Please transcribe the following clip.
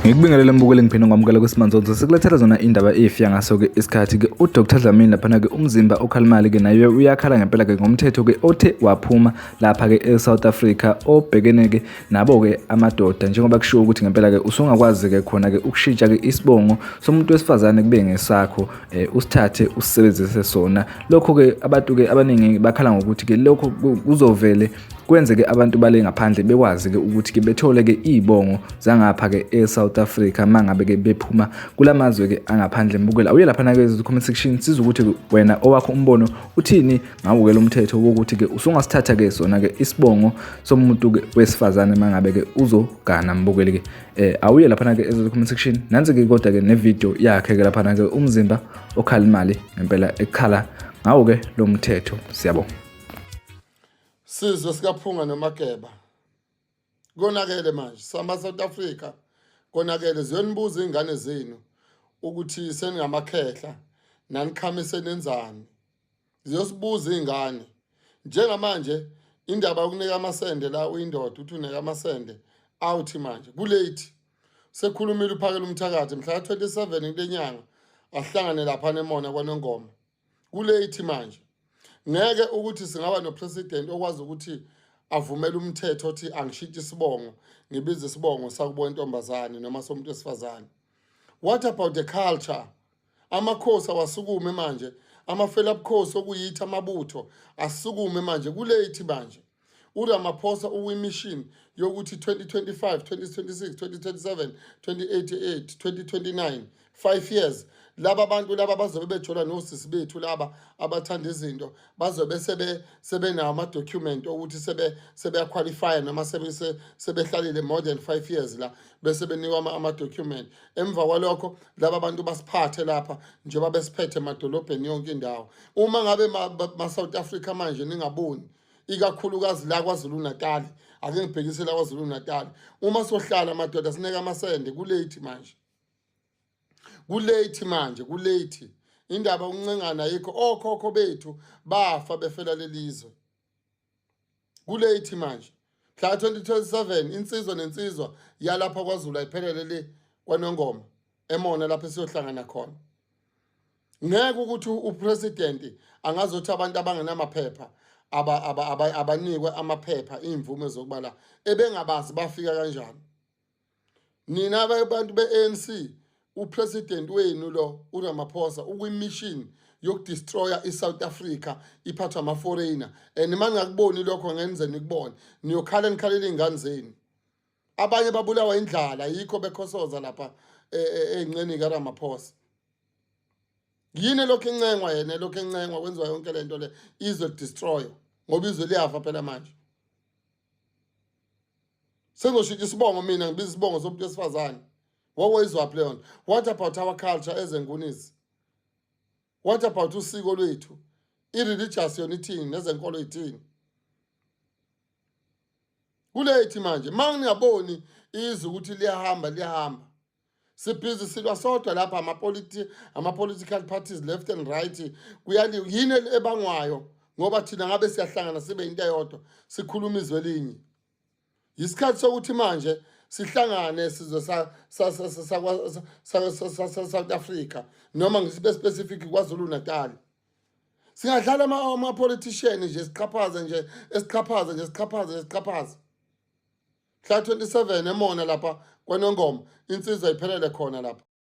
ngikubingelele mbukeli ngiphinde ngamukela kwesimanzonzo sikulethela zona indaba efiya ngaso-ke isikhathi-ke udr dlamini laphana-ke umzimba okhalimali-ke naye uyakhala ngempela-ke ngomthetho-ke othe waphuma lapha-ke e-south africa obhekene-ke nabo-ke amadoda njengoba kushiwo ukuthi ngempela-ke usungakwazi-ke khona-ke ukushintsha-ke isibongo somuntu wesifazane kube ngesakho um eh, usithathe usisebenzise sona lokho-ke abantu-ke abaningi bakhala ngokuthi-ke lokho kuzovele kwenze-ke abantu bale ngaphandle bekwazi-ke ukuthi-ke bethole-ke iy'bongo zangapha-ke e-south africa uma ngabe-ke bephuma kula mazwe-ke angaphandle mbukela uye laphana-ke comment section siza ukuthi wena owakho umbono uthini ngawo-ke lo mthetho wokuthi-ke usungasithatha-ke sona-ke isibongo somuntu-ke wesifazane uma ngabe-ke uzogana mbukeli-ke um awuye laphana-ke ezocoment section nansi-ke kodwa-ke nevidiyo yakhe-ke laphana-ke umzimba okhala imali ngempela ekhala ngawo-ke lo mthetho siyabonga sizwe sikaphunga nomageba konakele manje sama-south africa konakele ziyonibuza iy'ngane zenu ukuthi seningamakhehla nanikhamise nenzani ziyosibuza iy'ngane njengamanje indaba yokunika amasende la uyindoda uthi uneka amasende awuthi manje kulate sekhulumile uphakela umthakathi mhla ka-27 kule nyanga ahlangane lapha nemona kwanongoma kulate manje ngeke ukuthi singaba nopresident okwazi ukuthi avumele umthetho othi angishitshe isibongo ngibize isibongo sakubo intombazane noma somuntu wesifazane what about the culture amakhosi awasukume manje amafela bukhosi okuyithi amabutho asukume manje kulethi manje uRamaphosa uwimishini yokuthi 2025 2026 2027 2088 2029 5 years laba bantu laba bazobe bejola nosisi bethu laba abathanda izinto bazobe sebe sebenawo ama document ukuthi sebe sebeyaqualify noma sebe sebehlalile more than 5 years la bese benikwa ama-document emva kwalokho laba bantu basiphathe lapha njengoba besiphethe emadolobheni yonke indawo uma ngabe ma-south africa manje ningaboni ikakhulukazi la kwazulu natali ake ngibhekise la kwazulu natali uma sohlala madoda sineke amasende kulate manje kulate manje kulate indaba uncengana yikho okhokho bethu bafa befela lelizwe kulate manje mhla 2027 insizwa nensizwa yalapha kwaZulu ayiphelele le kwanongoma emona lapho siyohlangana khona ngeke ukuthi upresident angazothi abantu abangenamaphepha abanikwe amaphepha imvume zokubala ebengabazi bafika kanjani nina abantu be-anc upresident wenu lo uramaphosa ukwimission yokudestroya i-south africa iphathwa ama-foreigner and uma ningakuboni lokho ngenze nikubone niyokhala nikhalela iy'ngane zenu abanye babulawa indlala yikho bekhosoza lapha e, e, ey'ncenini karamaphosa yini lokhu encengwa yena lokhu encengwa kwenziwa yonke le nto le izwe lidestroywa ngoba izwe liyafa phela manje sengizoshintsha isibongo mina ngibiza isibongo somuntu wesifazane wawoyizwaphi leyo nto what about our culture ezengunisi what about usiko lwethu i-religious yona ithini nezenkolo ithini kulethi manje uma ngingaboni izwe ukuthi liyahamba liyahamba sibhizi silwa sodwa lapha ama-political parties left and right kuyaliwa yini ebangwayo ngoba thina ngabe siyahlangana sibe yinto eyodwa sikhuluma izwe elinye yisikhathi sokuthi manje sihlangane sizwe south africa noma ngisibe specific kwazulu natal singadlala ama-politician nje siqhaphaze nje esiqhaphaze nje siqhaphaze nje siqhaphaze mhla 27 emona lapha kwanongoma insizwa iphelele khona lapha